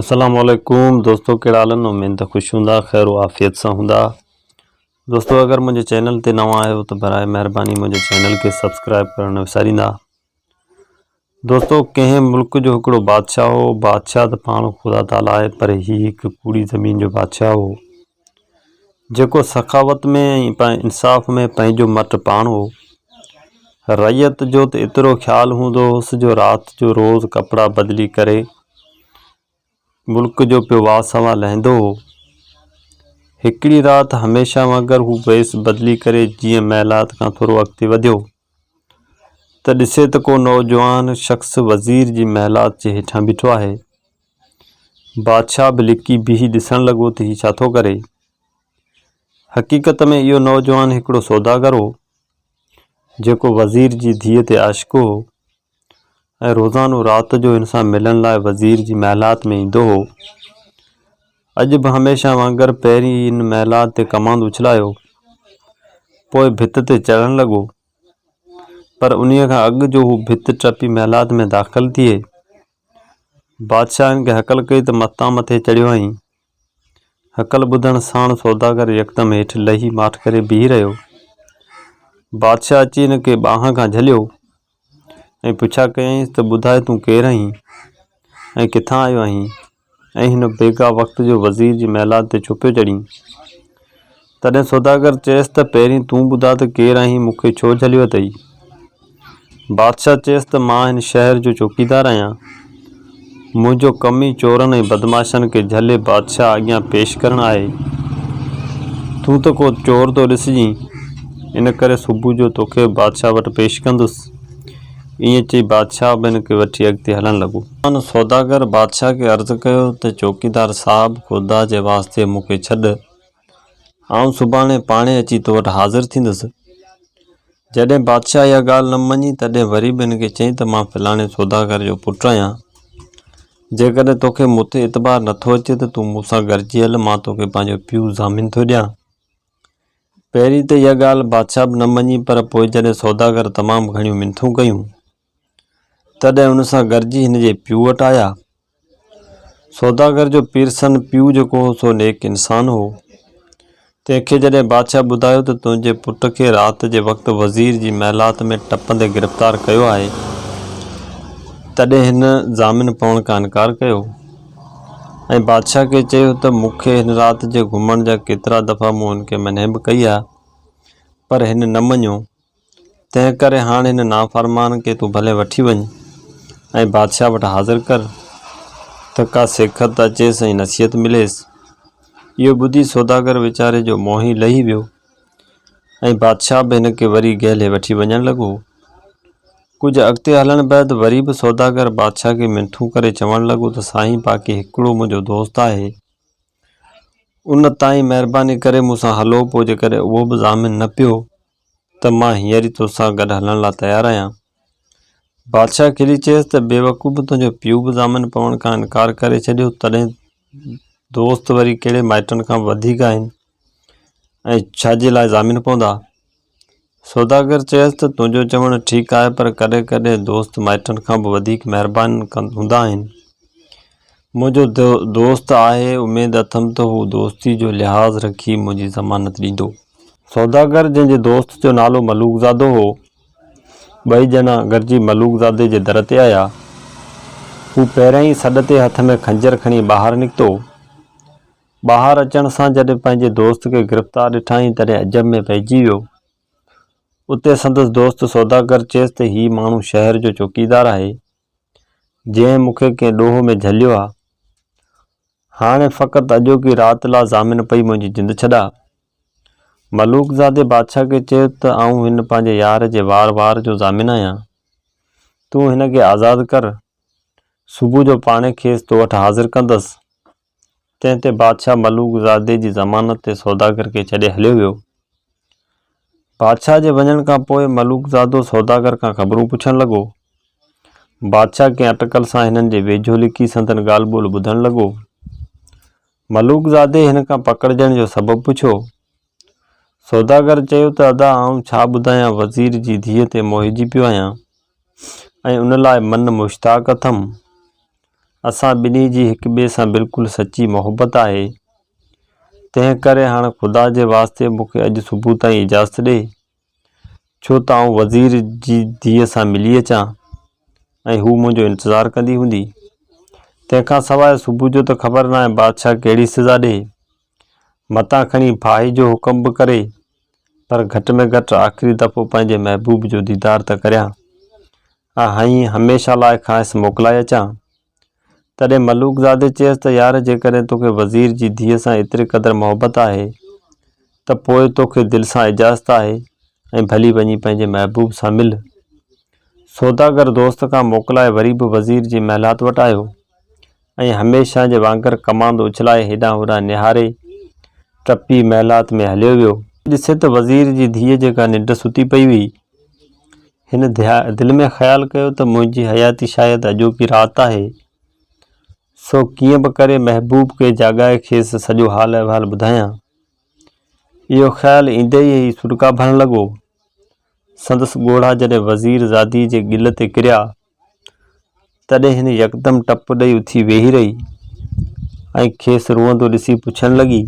السلام عليڪم دوستو ڪهڙا حال آهن اميد ته خوش هوندا خير و عافيت سان هوندا دوستو اگر منهنجي چينل تي نوان آهيو ته برائي مهرباني منهنجي چينل کي سبسڪرائب ڪرڻ نه وساريندا دوستو ڪنهن ملڪ جو هڪڙو بادشاهه هو بادشاهه ته پاڻ خدا تعاليٰ آهي پر هي هڪ ڪوڙي زمين جو بادشاهه هو جيڪو سخاوت ۾ ۽ انصاف ۾ پنهنجو مٽ پاڻ هو. رعيت جو ته ايترو خيال هوندو هوس جو رات جو روز ڪپڙا بدلي ڪري ملڪ جو پيو واه سنواه لهندو هو. هڪڙي رات هميشه وانگر هو ويس بدلي ڪري جيئن محلات کان ٿورو اڳتي وڌيو. ته ڏسي ته ڪو نوجوان شخص وزير جي محلات جي هيٺان بيٺو آهي. بادشاهه به لڪي بيهي ڏسڻ لڳو ته هي ڇا ٿو ڪري. حقيقت ۾ اهو نوجوان هڪڙو سوداگر هو، جيڪو وزير جي ڌيء تي عاشق هو. ۽ روزانو رات جو هن سان ملڻ لاء وزير جي محلات ۾ ايندو هو. اڄ به هميشه وانگر پهرين ئي ان محلات تي ڪماند اڇلايو، پوء ڀت تي چڙهڻ لڳو. پر انهيء کان اڳ جو هو ڀت ٽپي محلات ۾ داخل ٿئي، بادشاهن کي هڪل ڪئي ته متان مٿي چڙهيو هئائين. هڪل ٻڌڻ ساڻ سوداگر يڪدم هيٺ لهي ماٺ ڪري بيهي رهيو. بادشاهه اچي هن کي ٻانهن کان جهليو ۽ پڇا ڪيائينس ته ٻڌاء تون ڪير آهين ۽ ڪٿان آيو آهين ۽ هن بيگاهه وقت جو وزير جي محلات تي ڇو پيو چڙهين؟ تڏهن سوداگر چيس ته پهرين تون ٻڌاء ته ڪير آهين مون کي ڇو جهليو اٿئي؟ بادشاهه چيس ته مان هن شهر جو چوڪيدار آهيان. منهنجو ڪم ئي چورن ۽ بدمعاشن کي جهلي بادشاهه اڳيان پيش ڪرڻ آهي. تون ته ڪو چور ٿو ڏسجين، ان ڪري صبح جو توکي به بادشاهه وٽ پيش ڪندس. ائين چئي بادشاهه به هن کي وٺي اڳتي هلڻ لڳو. هن سوداگر بادشاهه کي عرض ڪيو ته چوڪيدار صاحب خدا جي واسطي مون کي ڇڏ. آئون سڀاڻي پاڻهي اچي تو وٽ حاضر ٿيندس. جڏهن بادشاهه اها ڳالهه نه مڃي، تڏهن وري به هن کي چيائين ته مان فلاڻي سوداگر جو پٽ آهيان. جيڪڏهن تو کي مون تي اعتبار نه ٿو اچي ته تون مون سان گڏجي هل، مان تو کي پنهنجو پيو ضامن ٿو ڏيان. پهرين ته اها ڳالهه بادشاهه به نه مڃي، پر پوء جڏهن سوداگر تمام گهڻيون منٿون ڪيون، تڏهن ان سان گڏجي هن جي پيء وٽ آيا. سوداگر جو پيرسن پيء جيڪو هو سو نيڪ انسان هو. تنهن کي جڏهن بادشاهه ٻڌايو ته تنهنجي پٽ کي رات جي وقت وزير جي محلات ۾ ٽپندي گرفتار ڪيو آهي، تڏهن هن ضامن پوڻ کان انڪار ڪيو ۽ بادشاهه کي چيو ته مون کي هن رات جي گهمڻ جا ڪيترا دفعا مون هن کي منهي به ڪئي آهي پر هن نه مڃيو. تنهنڪري هاڻ هن نافرمان کي تون ڀلي وٺي وڃ ۽ بادشاهه وٽ حاضر ڪر ته ڪا سيکت اچيس ۽ نصيحت مليس. اهو ٻڌي سوداگر ويچاري جو منهن ئي لهي ويو ۽ بادشاهه به هن کي وري گهلي وٺي وڃڻ لڳو. ڪجهه اڳتي هلڻ بعد وري به سوداگر بادشاهه کي منٿون ڪري چوڻ لڳو ته سائين باقي هڪڙو منهنجو دوست آهي ان تائين مهرباني ڪري مون سان هلو پوء جيڪڏهن اهو به ضامن نه پيو ته مان هينئر ئي توسان گڏ هلڻ لاء تيار آهيان. بادشاهه کلي چيس ته بيوقوف تنهنجو پيء به ضامن پوڻ کان انڪار ڪري ڇڏيو تڏهن دوست وري ڪهڙي مائٽن کان وڌيڪ آهن ۽ ڇا جي لاء ضامن پوندا؟ سوداگر چيس ته تنهنجو چوڻ ٺيڪ آهي پر ڪڏهن ڪڏهن دوست مائٽن کان به وڌيڪ مهربان هوندا آهن. منهنجو دوست آهي، اميد اٿم ته هو دوستي جو لحاظ رکي منهنجي ضمانت ڏيندو. سوداگر جنهن جي دوست جو نالو ملوڪ زادو هو، ٻئي ڄڻا گڏجي ملوڪ زادي جي در تي آيا. هو پهريائين سڏ تي هٿ ۾ خنجر کڻي ٻاهر نڪتو. ٻاهر اچڻ سان جڏهن پنهنجي دوست کي گرفتار ڏٺائين تڏهن عجب ۾ پئجي ويو. اتي سندس دوست سوداگر چيس ته هي ماڻهو شهر جو چوڪيدار آهي، جنهن مون کي ڪنهن ڏوهه ۾ جهليو آ. هاڻي فقط اڄوڪي رات لا ضامن پئي منهنجي جند ڇڏاء. ملوڪ زادي بادشاهه کي چيو ته آئون هن پنهنجي يار جي وار وار جو ضامن آهيان. تون هن کي آزاد ڪر. صبح جو پاڻهي کيس تو وٽ حاضر ڪندس. تنهن تي بادشاهه ملوڪ زادي جي ضمانت تي سوداگر کي ڇڏي هليو ويو. بادشاهه جي وڃڻ کان پوء ملوڪ زادو سوداگر کان خبرون پڇڻ لڳو. بادشاهه ڪنهن اٽڪل سان هنن جي ويجهو لڪي سندن ڳالهه ٻولهه ٻڌڻ لڳو. ملوڪ زادي هن کان پڪڙجڻ جو سبب پڇيو. سوداگر چيو ته ادا آئون ڇا ٻڌايان وزير جي ڌيء تي موهجي پيو آهيان ۽ ان لاء من مشتاق اٿم. اسان ٻنهي جي هڪ ٻئي سان بلڪل سچي محبت آهي. تنهن ڪري هاڻ خدا جي واسطي مون کي اڄ صبح تائين اجازت ڏي ڇو ته آئون وزير جي ڌيء سان ملي اچان ۽ هو منهنجو انتظار ڪندي هوندي. تنهن کان سواء صبح جو ته خبر ناهي بادشاهه ڪهڙي سزا ڏي. متان کڻي ڦاهي جو حڪم به ڪري پر گهٽ ۾ گهٽ آخري دفعو پنهنجي محبوب جو ديدار ته ڪريان ۽ هميشه لاء کانئس موڪلائي اچان. تڏهن ملوڪ زادي چيس ته يار جيڪڏهن توکي وزير جي ڌيء سان ايتري قدر محبت آهي ته پوء توکي دل سان اجازت آهي ۽ ڀلي وڃي پنهنجي محبوب سان مل. سوداگر دوست کان موڪلائي وري به وزير جي محلات وٽ آيو ۽ هميشه جي وانگر ڪماند اڇلائي هيڏانهن هوڏانهن نهاري، ٽپي محلات ۾ هليو ويو. ڏسي ته وزير جي ڌيء جيڪا ننڊ ستي پئي هئي. هن دل ۾ خيال ڪيو ته منهنجي حياتي شايد اڄوڪي رات آهي. سو ڪيئن به ڪري محبوب کي جاڳائي کيس سڄو حال احوال ٻڌايان. اهو خيال ايندي ئي هي سڏڪا ڀرڻ لڳو. سندس ڳوڙها جڏهن وزير زادي جي ڳل تي ڪريا. تڏهن هن يڪدم ٽپ ڏئي اٿي ويهي رهي ۽ کيس روئندو ڏسي پڇڻ لڳي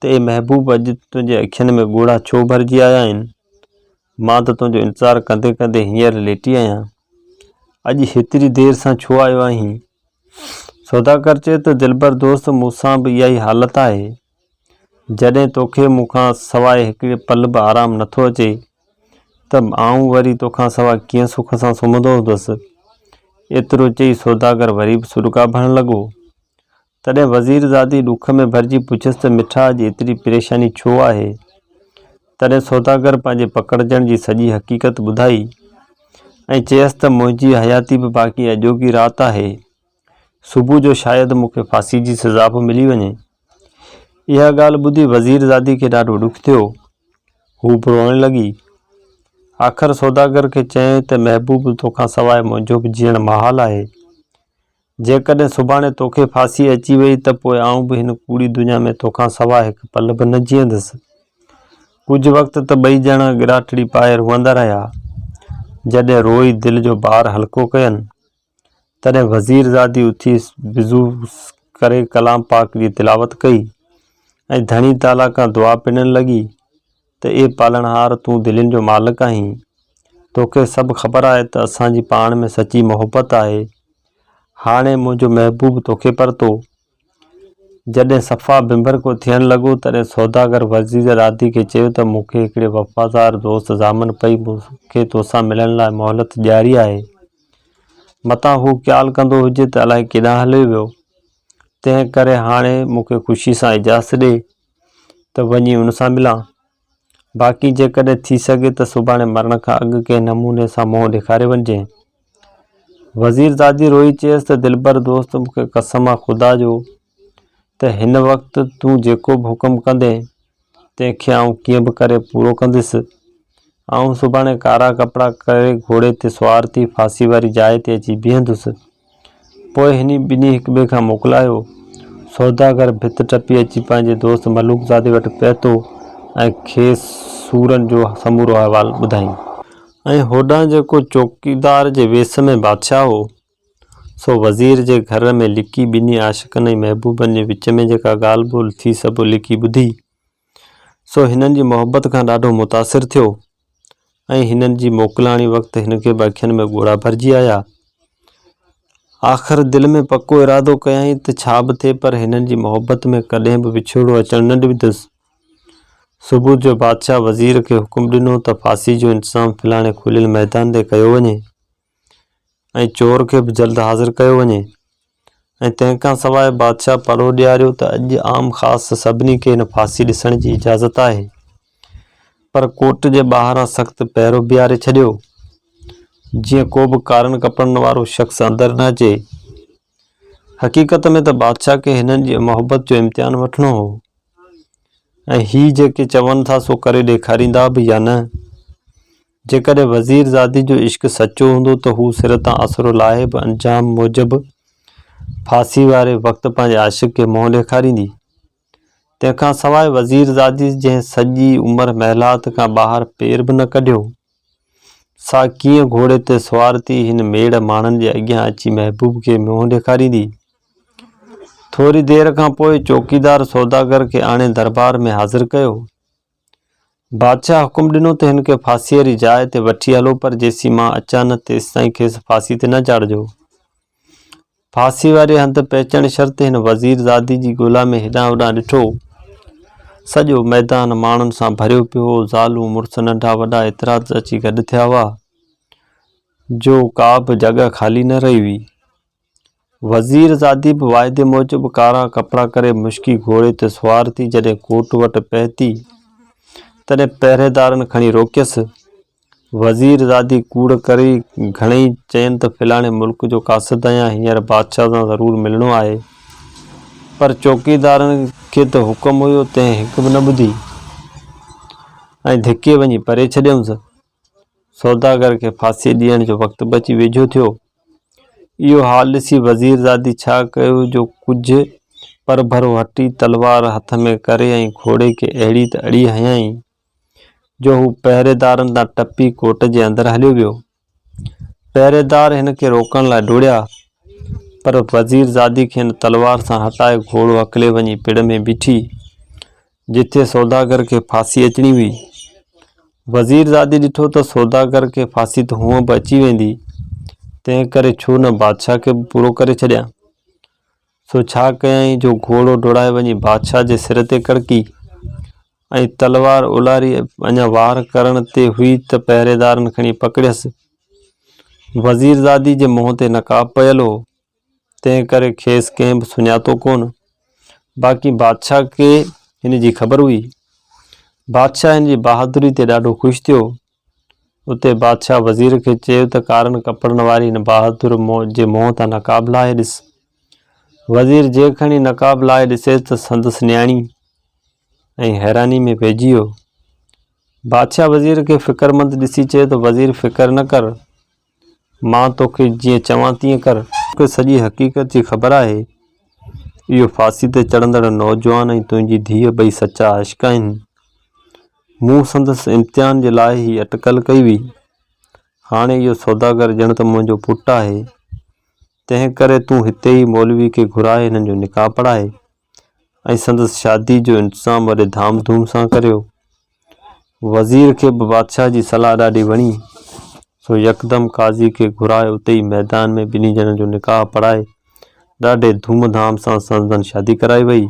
ته اي محبوب اڄ تنهنجي اکين ۾ ڳوڙها ڇو ڀرجي آيا آهن؟ مان ته تنهنجو انتظار ڪندي ڪندي هينئر ليٽي آهيان. اڄ هيتري دير سان ڇو آيو آهين؟ سوداگر چيو ته دلبر دوست مون سان به اها ئي حالت آهي. جڏهن توکي مون کان سواء هڪڙي پل به آرام نٿو اچي ته آئون وري توکان سواء ڪيئن سک سان سمهندو هوندس. ايترو چئي سوداگر وري به سڏڪا ڀرڻ لڳو. تڏهن وزيرزادي ڏک ۾ ڀرجي پڇيس ته مٺا اڄ ايتري پريشاني ڇو آهي؟ تڏهن سوداگر پنهنجي پڪڙجڻ جي سڄي حقيقت ٻڌائي ۽ چيس ته منهنجي حياتي به باقي اڄوڪي رات آهي. صبح جو شايد مون کي ڦاسي جي سزا به ملي وڃي. اها ڳالهه ٻڌي وزيرزادي کي ڏاڍو ڏک ٿيو. هو به روئڻ لڳي. آخر سوداگر کي چيائين ته محبوب تو کان سواء منهنجو به جيئڻ محال آهي. جيڪڏهن سڀاڻي تو کي ڦاسي اچي وئي ته پوء آئون به هن ڪوڙي دنيا ۾ تو کان سواء هڪ پل به نه جيئندس. ڪجهه وقت ته ٻئي ڄڻا ڳراٽڙي پائي روئندا رهيا. جڏهن روئي دل جو بار هلڪو ڪين. تڏهن وزير زادي اٿي وضو ڪري ڪلام پاڪ جي تلاوت ڪئي ۽ ڌڻي تعاليٰ کان دعا پنڻ لڳي ته اي پالڻهار تون دلين جو مالڪ آهين، توکي سڀ خبر آهي ته اسان جي پاڻ ۾ سچي محبت آهي، هاڻي منهنجو محبوب توکي پرتو جڏهن صفا بنبر ڪو ٿيڻ لڳو، تڏهن سوداگر ورجيز رادي کي چيو ته مون کي هڪڙي وفادار دوست ضامن پئي مون کي توسان ملڻ لاء مهلت ڏياري آهي. متان هو قيال ڪندو هجي ته الائي ڪيڏانهن هليو ويو. تنهن ڪري هاڻي مون کي خوشي سان اجازت ڏي ته وڃي ان سان ملان. باقي جيڪڏهن ٿي سگهي ته سڀاڻي مرڻ کان اڳ ڪنهن نموني سان منهن ڏيکاري وڃجي. وزيرزادي روئي چيس ته دلبر دوست مون کي قسم آ خدا جو ته هن وقت تون جيڪو به حڪم ڪندين تنهن کي آئون ڪيئن به ڪري پورو ڪنديس. آئون سڀاڻي ڪارا ڪپڙا ڪري گهوڙي تي سوار ٿي ڦاسي واري جاء تي اچي بيهندس. پوء هني ٻنهي هڪ ٻئي کان موڪلايو. سوداگر ڀت ٽپي اچي پنهنجي دوست ملوڪ زادي وٽ پهتو ۽ کيس سورن جو سمورو احوال ٻڌايائين. ۽ هوڏانهن جيڪو چوڪيدار جي ويس ۾ بادشاهه هو، سو وزير جي گهر ۾ لڪي ٻنهي عاشقن ۽ محبوبن جي وچ ۾ جيڪا ڳالهه ٻولهه ٿي سڀ لڪي ٻڌي. سو هنن جي محبت کان ڏاڍو متاثر ٿيو ۽ هنن جي موڪلاڻي وقت هن کي به اکين ۾ ڳوڙها ڀرجي آيا. آخر دل ۾ پڪو ارادو ڪيائين ته ڇا به ٿئي پر هنن جي محبت ۾ ڪڏهن به وڇوڙو اچڻ نه ڏيندس. صبح جو بادشاهه وزير کي حڪم ڏنو ته ڦاسي جو انتظام فلاڻي کليل ميدان تي ڪيو وڃي. ۽ چور کي به جلد حاضر ڪيو وڃي ۽ تنهن کان سواء بادشاهه پڙهو ڏياريو ته اڄ عام خاص سڀني کي هن ڦاسي ڏسڻ جي اجازت آهي. پر ڪورٽ جي ٻاهران سخت پهرو بيهاري ڇڏيو، جيئن ڪو به ڪارن ڪپڙن وارو شخص اندر نه اچي. حقيقت ۾ ته بادشاهه کي هنن جي محبت جو امتحان وٺڻو هو ۽ هي جيڪي چون ٿا سو ڪري ڏيکاريندا به يا نه. جيڪڏهن وزير زادي جو عشق سچو هوندو ته هو سر تان اسرو لاهي به انجام موجب ڦاسي واري وقت پنهنجي عاشق کي منهن ڏيکاريندي. تنهن کان سواء وزير زادي جنهن سڄي عمر محلات کان ٻاهر پير به نه ڪڍيو، سا ڪيئن گهوڙي تي سوار ٿي هن ميڙ ماڻهن جي اڳيان اچي محبوب کي منهن ڏيکاريندي. ٿوري دير کان پوء چوڪيدار سوداگر کي آڻي دربار ۾ حاضر ڪيو. بادشاهه حڪم ڏنو ته هن کي ڦاسيء ري جاء تي وٺي هلو پر جيسين مان اچان نه تيستائين کيس ڦاسي تي نه چاڙهجو. ڦاسي واري هنڌ پهچڻ شرط هن وزير زادي جي ڳولا ۾ هيڏانهن هوڏانهن ڏٺو. سڄو ميدان ماڻهن سان ڀريو پيو هو. زالون، مڙس، ننڍا وڏا ايترا ته اچي گڏ ٿيا هئا جو ڪا به جڳهه خالي نه رهي هئي. وزيرزادي به واعدي موجب ڪارا ڪپڙا ڪري مشڪي گهوڙي تي سوار ٿي جڏهن ڪوٽ وٽ پهتي تڏهن پهريدارن کڻي روڪيس. وزيرزادي ڪوڙ ڪري گهڻئي چين ته فلاڻي ملڪ جو قاصد آهيان هينئر بادشاهه سان ضرور ملڻو آهي. پر چوڪيدارن کي ته حڪم هيو تنهن هڪ به نه ٻڌي ۽ ڌڪي وڃي پري ڇڏيائونس. سوداگر کي ڦاسي ڏيڻ جو وقت به اچي ويجهو ٿيو. اهو حال ڏسي وزيرزادي ڇا ڪيو جو ڪجهه پرڀرو هٽي تلوار هٿ ۾ ڪري ۽ گهوڙي کي اهڙي ته اڙي هنيائين جو هو پهريدارن تان ٽپي ڪوٽ جي اندر هليو ويو. پهريدار هن کي روڪڻ لاء ڊوڙيا پر وزيرزادي کين تلوار سان هٽائي گهوڙو اڪلي وڃي پڙ ۾ بيٺي. جتي سوداگر کي ڦاسي اچڻي هئي. وزير زادي ڏٺو ته سوداگر کي ڦاسي ته هونء به اچي ويندي، تنهن ڪري ڇو نه بادشاهه کي به پورو ڪري ڇڏيان. سو ڇا ڪيائين جو گهوڙو ڊوڙائي وڃي بادشاهه جي سر تي ڪڙڪي ۽ تلوار اولاري اڃا وار ڪرڻ تي هئي ته پهريدارن کڻي پڪڙيس. وزير زادي جي منهن تي نقاب پيل هو، تنهن ڪري کيس ڪنهن به سڃاتو ڪونه. باقي بادشاهه کي هن جي خبر هئي. بادشاهه هن جي بهادري تي ڏاڍو خوش ٿيو. اتي بادشاهه وزير کي چيو ته ڪارن ڪپڙن واري هن بهادر جي منهن تان نقاب لاهي ڏس. وزير جي کڻي نقاب لاهي ڏسيس ته سندس نياڻي ۽ حيراني ۾ پئجي ويو. بادشاهه وزير کي فڪرمند ڏسي چيو ته وزير فڪر نه ڪر. مان توکي جيئن چوان تيئن ڪر. توکي سڄي حقيقت جي خبر آهي. اهو ڦاسي تي چڙهندڙ نوجوان ۽ تنهنجي ڌيء ٻئي سچا عاشق آهن. مون سندس امتحان جي لاء هي اٽڪل ڪئي هئي. هاڻي اهو سوداگر ڄڻ ته منهنجو پٽ آهي. تنهن ڪري تون هتي ئي مولوي کي گهرائي هنن جو نڪاح پڙهائي. ۽ سندس شادي جو انتظام وڏي ڌام ڌوم سان ڪريو. وزير کي به بادشاهه جي صلاح ڏاڍي وڻي، سو يڪدم قاضي کي گهرائي اتي ئي ميدان ۾ ٻنهي ڄڻن جو نڪاح پڙهائي ڏاڍي ڌوم ڌام سان سندن شادي ڪرائي وئي.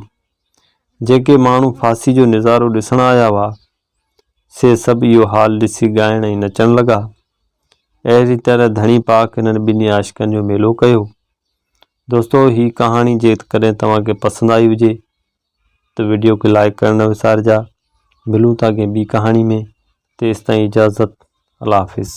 جيڪي ماڻهو ڦاسي جو نظارو ڏسڻ آيا هئا، سي سڀ اهو حال ڏسي ڳائڻ ۽ نچڻ لڳا. اهڙي طرح ڌڻي پاڪ هنن ٻنهي عاشقن جو ميلو ڪيو. دوستو هي ڪهاڻي جيڪڏهن توهان کي پسند آئي هجي ته ويڊيو کي لائيڪ ڪرڻ نه وسارجا ملون ٿا ڪنهن ٻي ڪهاڻي ۾ تيستائين اجازت الله حافظ.